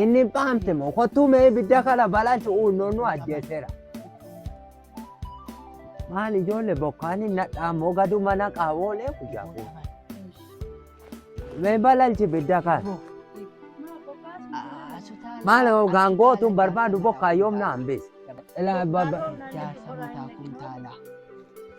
Inni paamte moo kottuu mee ibidda kana balansu uunnoon nu ajjeeseera. Maal ijoollee bokkaan hin nadhaa moo gadu mana qaawoolee guyyaa kun. Mee balansi ibidda kana. Maal gaangootuun barbaadu bokkaa yoom na hambise. Ilaa baba jaarsa mataa kuntaalaa.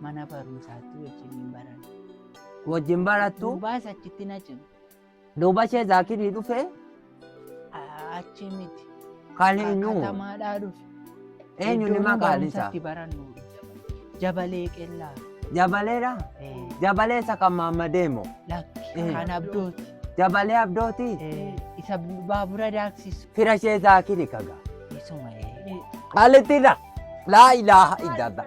Mana barumsaatti wajjin hin baranne. Wajjin barattu. Duubaas achitti na cime. Duuba ishee zaakirii dhufee. Achi miti. Kan eenyu? Katamaadhaa dhufe. Eenyu ni maqaan isaa? Iddoo barannu. Jabalee qellaa. Jabaleedha? Jabalee isa kan maammadee moo? Lakki kan abdooti. Jabalee abdooti? Isa baabura daaksisu. Fira ishee zaakiri kaga. Isuma. Qaalittiidha. Laa ilaaha illallah.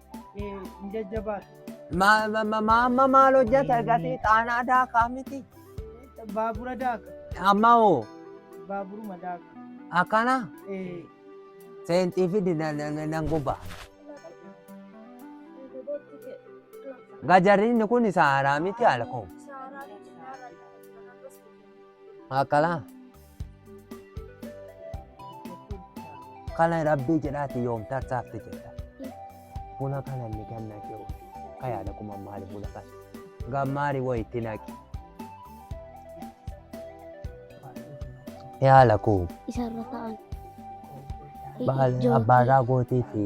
Jajjabaa. Amma maal hojjata gatii xaanaa daakaa miti. Baabura daaka. Amma hoo Baaburuma daaka. akkana Eh, seenxii fidi na- na- na- nan guba. Gajarrinni kun saaraa miti alkoom. Akala. Kana rabbii jedhaati yoom tarsaafte jedha. Buna kana inni ganna jiru. Kayaada kuma maali buna kana. Gammaari wayii itti naqi. Yaala kuu. Isarra ta'an. Baala Ijoollee abbaa irraa gootii fi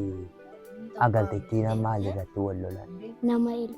agaltittiin maal irratti wal lolan. Nama ilma.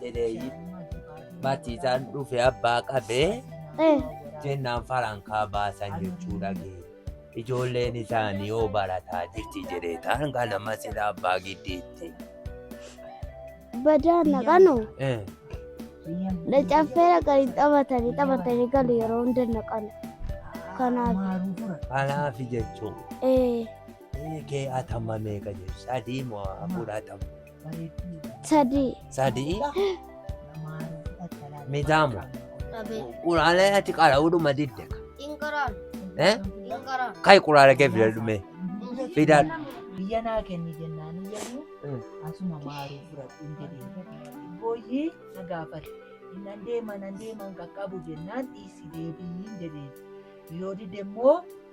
jedhee matiisaan dhufe abbaa qabee Eh, jennaan farankaa baasan jechuu dhage. Ijoolleen isaanii yoo barataa jirti jedhee taan kana masila abbaa giddiitti. badaa naqanu Eh, caffee dhaqanii taphatanii taphatanii galu yeroo hunda naqanu. Kanaaf Kanaaf jechuun eh, kee atama meeqa jedhu sadii moo afur atama. sadii sadii midaamu quraalee ati qara'uudhuma didde eh? kai quraalee kee fidadhu mee fidadhu biyya naa kenni jennaan iyyanii Mm. asuma maaruu fudhadhu hin jedhee booyyee na gaafate innan deema nan deeman qaqqabu jennaan dhiisi deebii hin jedhee yoo dide immoo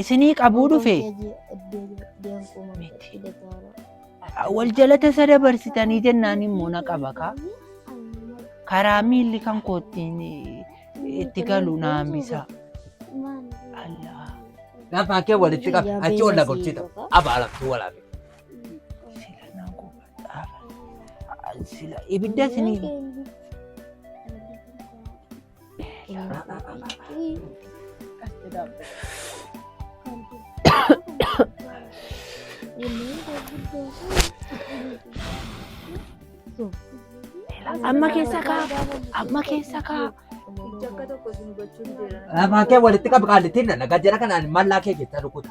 isinii qabuu dhufe wal jalata isa dabarsitanii jennaan immoo na qaba kaa karaa miilli kan koottiin itti galu na hambisa. Allah. Gaafa kee walitti qabe achi ol lagochita abaalaftuu walaabe. Sila na gubadhaaf. Sila ibidda isinii. Amma keessa kaa. Amma keessa kaa. Akka tokko isin hubachuu hin jiran. Lafaa kee walitti qabi qaallittiin nana gajjara kanaan mallaa kee keessa rukuta.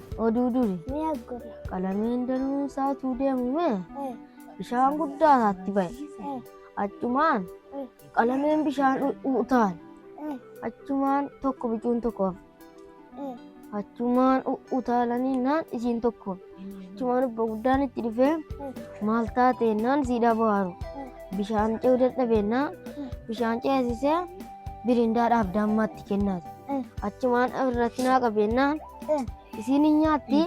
oduu duri ni aggorra. qalamiin danuun saatuu deemu mee Eh, bishaan guddaa isaatti ba'e eh, achumaan eh, qalamiin bishaan u- u- utaale eh, achumaan tokko bicuun tokko hafe. eh. achumaan u- utaalanii naan isiin tokko hafe. achumaan obbo guddaan itti dhufee maal taatee naan siidhaa bohaaru bishaan ce'uu dadhabeenna bishaan ceesisee birindaa dhaaf daammaatti kennaati Eh. achumaan irratti naa qabeennaan isiin hin nyaatti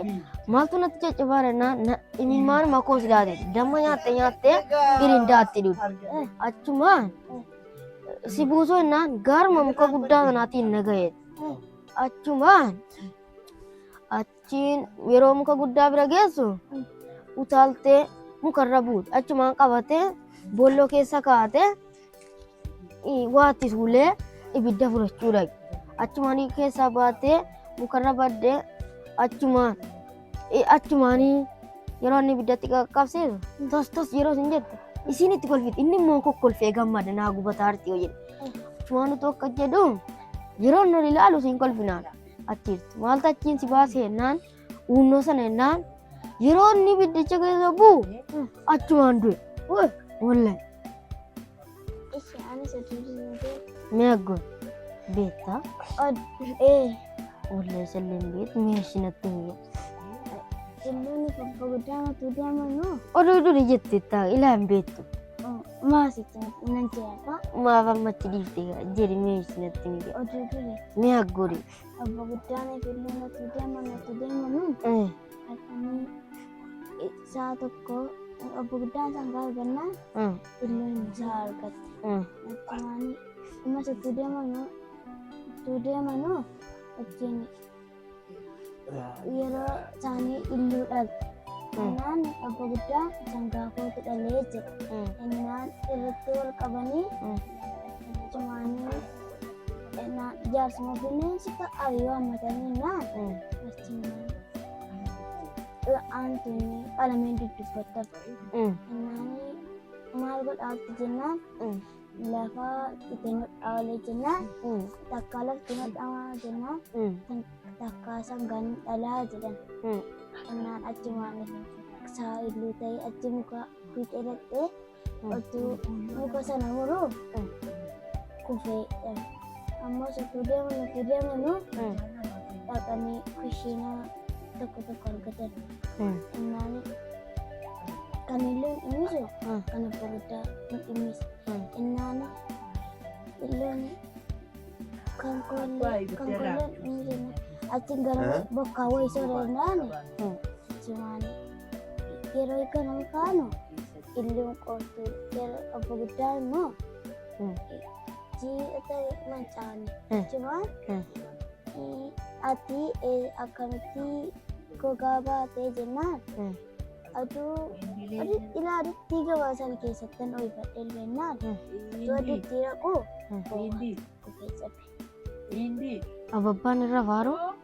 maaltu natti caccabaa jennaan na- imimmaan makoos daate damma nyaatte nyaatte irindaatti dhufe achuma si buusoo jennaan gaaruma muka guddaa kanaatiin na ga'e achuma achiin yeroo muka guddaa bira geessu utaaltee mukarra buute achumaan qabatee boolloo keessa kaa'ate Waatti tuulee ibidda fudhachuu dhaqe. Achumaan keessaa baatee mukarra badde achumaan achumaan yeroo inni ibiddatti qaqqabsiisu tos tos yeroo isin jette isiin itti kolfite inni immoo kokkolfee gammada naa gubataa arti yoo jedhe. Achumaan utuu akka jedhu yeroo inni ol ilaalu isin kolfinaan achiirti. Maaltu achiin si baase jennaan Uunnoo sana jennaan yeroo inni ibiddicha keessa bu'u achumaan du'e. Wallahi. Ishi ani sadii dinagdee. Mee aggoon beektaa? Ee. Wallahi salleen beektu mee ishii natti himee. Ilmoonni fabba guddaa matuu deemanoo. Oduu duri jette taa ilaa hin beektu. Maasitti nan jeeqa. Maaf amma achi dhiiftee jedhi mee ishii natti himee. Oduu duri. Mee aggoodee. Obbo Guddaan Eegaluu nuti deema nuti deema nuun Eh, halkanii eh, sa'a tokko obbo Guddaan isaan gaafa gannaan eh, illoon isaa argatte. eh. Akkumaanii ammas utuu deemanu utuu deemanu ittiin yeroo isaanii illuu dhabe. Innaan obbo Guddaan isaan gaafootu dhalee jedhe. Innaan irratti wal qabanii Mm. akkumaanii na jaarsuma bineensi fa'a yoo hammatanii naan aantuunni qalameen dudubbattaf naani maal godhaatti jennaan lafa itti nudhaa olee jennaan takkaa lafti nudhamaa jennaan takkaa sangaan dhalaa jedhan naan achumaan isaa illuu ta'e achi muka fiixee dhaqxee Otuu muka sana muruuf kufee jedhame. Ammas otuu deeman otuu deemanu dhaqanii kushiinaa tokko tokko argatan. Innaan kan illee hin dhimmisu kan abbaa guddaa hin dhimmisu. Innaan illeen kan koollee kan koollee hin dhimmisu. Achiin gara bokkaa wayii sooree hin dhaane. Jimaanii yeroo eegganamu kaanu Illuun qoortuu yeroo obbo guddaa immoo Mm. jiidhata mancaane Mm. jechuun Mm. eh, ati eh, akkamitti gogaa baatee jennaan Mm. aduu aduu ilaalutti gabaasan keessatti nu ifadhee jennaan aduu aduutti raquu Mm. kufee cabe. Ababbaan irra faaruu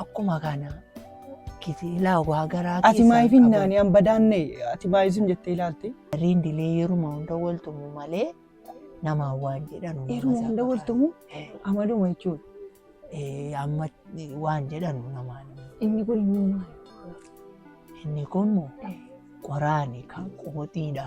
Akkuma kana kisilaa waa garaa Ati keessaa maayif hin qaban. naani an badaanne ati maayisum jettee ilaalte. Rindilee yeruma hunda waltumu malee namaa waan jedhan uumama Yeruma isaa hunda fakkaata. waltumu Eh, amaluma jechuudha. eh, Amma waan jedhan namaa Inni kun immoo maali? inni kun qoraani kan qooxiidha.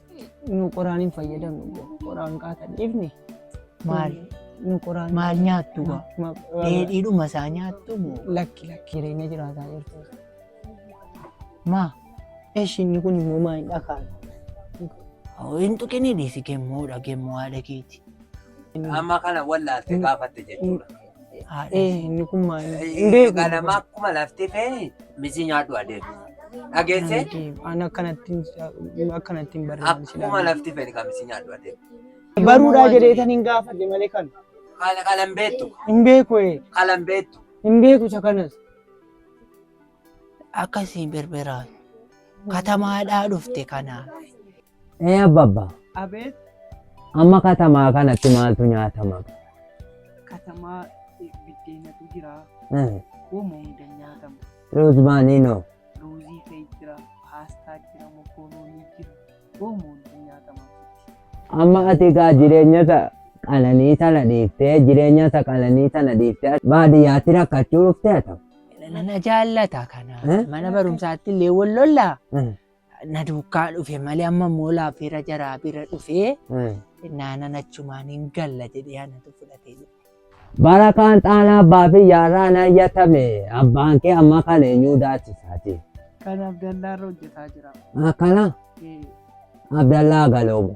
nu qoraan hin fayyadamnu jedhu. qoraan qaata dhiifne Maal nu qoraan maal nyaattu gaa? Ma- ma- Dheedhiidhuma isaa nyaattu moo? lakki lakki jireenya jiraataa jirtu Maa? eshi inni kun immoo maa hin dhakaan Hoo hin tuqinii dhiisi gemmoodha gemmoo haadha keeti. Amma kana wallaalte gaafatte jechuudha. Haadha Eh. inni kun maal Hin beeku. Qalama akkuma lafti feeni misi nyaadhu adeemu. Dhageesse Ani akkanatti hin- akkanatti hin barreessu. akkuma lafti feeni kan misi nyaadhu adeemu. Baruudhaa jedhee tan hin gaafadhe malee kan. Qala qalan beektu Hin beeku ee. qalan beektu. Hin beeku isa kanas. Akkasii berberaa. Katamaadhaa dhufte kanaa. Ee abbabba, Abeet amma katamaa kanatti maaltu nyaatama? katamaa eh, biddeenatu jira. Eh, Uuma hunda nyaatama. Ruuzmaaniinoo, Ruuzii ta'e jira, paastaa jira, mokoroonii jira. Uuma hunda nyaatama. amma ati egaa jireenya isa qananii sana dhiiftee, jireenya isa qananii sana dhiiftee baadiyyaatti rakkachuu dhuftee ata? Nana jaallata kana. Eh? Mana barumsaatti illee wal lollaa. Eh, na duukaa dhufe malee amma immoo laafeera jaraa bira dhufee naanan achumaan hin galla jedhee anatu fudhatee jedhe. Bara kaan xaanaa abbaa fi yaarraa na iyyatame abbaan kee amma kan eenyuu daachisaati. Kan Abdallaarra hojjetaa jira. Akkana Ee, Abdallaa Galoomu.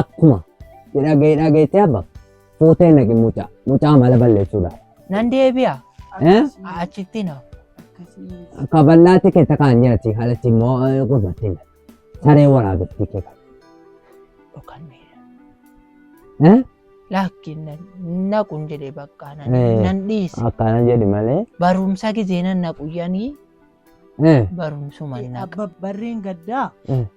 Akkuma hidhaa gahee hidhaa gaheetti abba fuutee naqi mucaa mucaa mala balleessuudha. Nan deebi'a. Eh? Achitti na. Kabannaatti kee takaan nyaati haalatti immoo gurbaatti na. Saree waraabatti kee kan. Dhokanneera. Eh? Laakki naqun jedhee bakka Eh. nan nan dhiise. Akkana jedhi malee. Barumsa gizee nan naquyyanii Eh? barumsuma naqa. Abba barreen gaddaa Eh.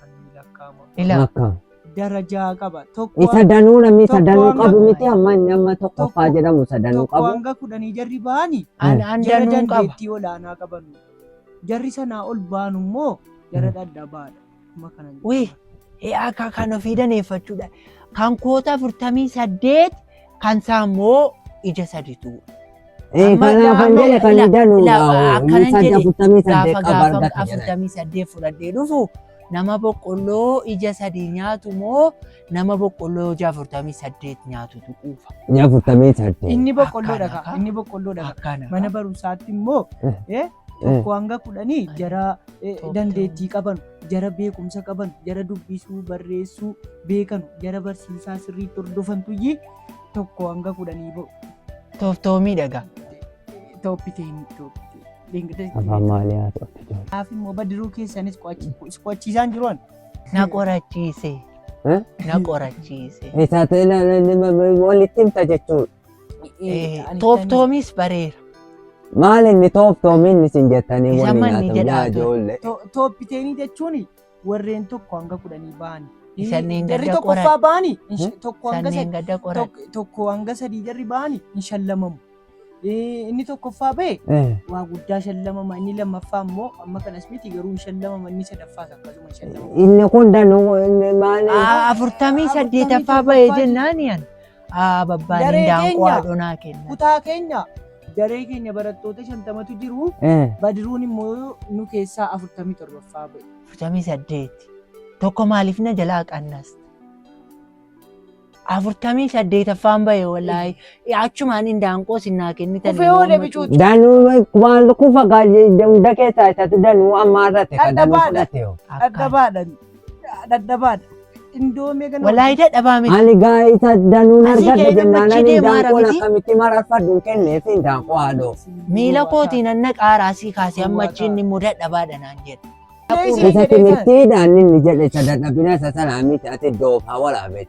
Kanneen lakkaa'ama. Ilaa. Lakkaa'ama. Darajaa qaba. Tokko Isa danuu namni isa Tokko danuu hanga- qabu miti amma inni amma tokkoffaa Tokko- jedhamu isa danuu tokko qabu. hanga kudhanii jarri ba'anii An an jara danuun qaba. dandeettii olaanaa qaban. Jarri sanaa ol baanu immoo jara dhadhabaadha. Amma kana Wee, ee akka kan ofii daneeffachuudha. Kan koota 48 Kan isaa immoo ija saditu. Amma Eegalaa kan amma jedhe kan ila- dalu ila- akkanan miisa jedhe afurtamii gaafa saddeet qaba gaafa argata jedhe. afurtamii saddeet fudhadhee dhufu nama boqqolloo ija sadii nyaatu moo nama boqqolloo ija afurtamii saddeet nyaatutu quufa. Inni afurtamii saddeet. Inni boqqolloo Akkana dhaga. ka. Inni boqqolloo dhaga. Akkana. Mana barumsaatti immoo Eh. eh, tokko hanga kudhanii jara eh, Tokko. dandeettii qaban jara beekumsa qaban, jara dubbisuu, barreessuu beekanu, jara barsiisaa sirriitti hordofantuyyii tokko hanga kudhanii ba'u. Tooftoo miidhagaa. Tooppiteeni. Afaan maalii haa to'atu jiru? Kanaaf immoo badiruu keessanis qo'achiisaan jiru an. Na qorachiise. Na qorachiise. Isaatee walitti himta jechuudha. Eh, Tooftoomis bareera. Maal inni tooftoomiin isin jettanii Isa waliin manni haasofnaa jedhaa ture. ijoollee. Tooppiteenii jechuun warreen tokko hanga kudhanii ba'ani. Isanneen Jarri gadda qoran. tokkoffaa ba'ani Hmm? tokko hanga Sanneen sadii gadda qoran. tokko- tokko hanga sadii jarri ba'ani hin shallamamu. Eh, Inni tokkoffaa ba'e Eh, waa guddaa shallamama inni lammaffaa immoo amma kanas miti garuu hin shallamama inni sadaffaas akkasuma hin shallamama. Inni kun danuu inni maal? Ah, Afurtamii saddeetaffaa ba'e jennaan yan. Aa babbaan Daree indaanqoo keenya. haadhonaa kenna. Kutaa keenya daree keenya barattoota shantamatu jiru. Eh, Badiruun immoo nu keessaa afurtamii torbaffaa ba'e. Afurtamii saddeeti. Tokko maaliif na jalaa qannas? Afurtamii saddeetaffaan ba'e wallaahi. Achumaan indaanqoo sinnaa kennitan. Kufee oole bicuuti. Danuu waan kufa gaajee hunda keessaa isatu danuu ammaa irratti kan danuu Dhadhabaa dha. fudhate hoo. Dhadhabaadhan. Dadhabaadha. Indoomee ganama. Walaayidaa dhabaa miti. Ani gaa'isa danuun Asii argadhe ka'ee jennaan namatti ani deemaa daanqoon miti. akkamitti mararfadhu hin kenneef hin daanqoo haadhoo. Miila kootiin anna qaaraa asii kaasee amma achiin ni muda dhabaadha naan jedhe. Isa timirtiidhaan inni jedhe isa dadhabina isa sanaa miti ati doof haa waraabet.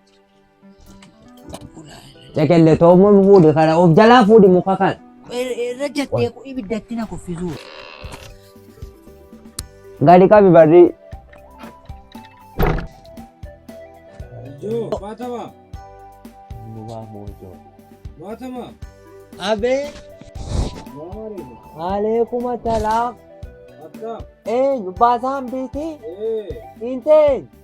Caqelle toommoo fuudhi kana of jalaa fuudhi muka kana. Irra jettee ibiddatti na kuffisuu. Gadi qabi barri. Abee. Aleekuma talaaf. Eenyu baasaan biitii? Intee.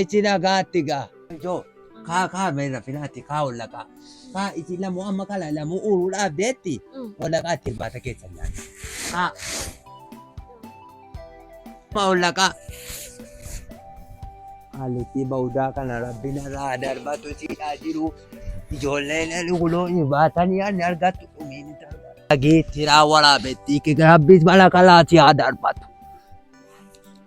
Ichi nagaatti gaa. Joo kaa kaa meera filaatti kaa hollaqaa. Kaa ichi lamu amma kala lamu uuruu dhaabdeetti hollaqaa itti irbaata keessa nyaata. Kaa. Maa hollaqaa. Haallitti ba'uudaa kana rabbiin irraa darbatu siidhaa jiru. Ijoolleen guloo hin baatanii ani argattu dhumiin itti argatu. Dhageettiraa waraabettii kika rabbiis mana kalaati haa darbatu.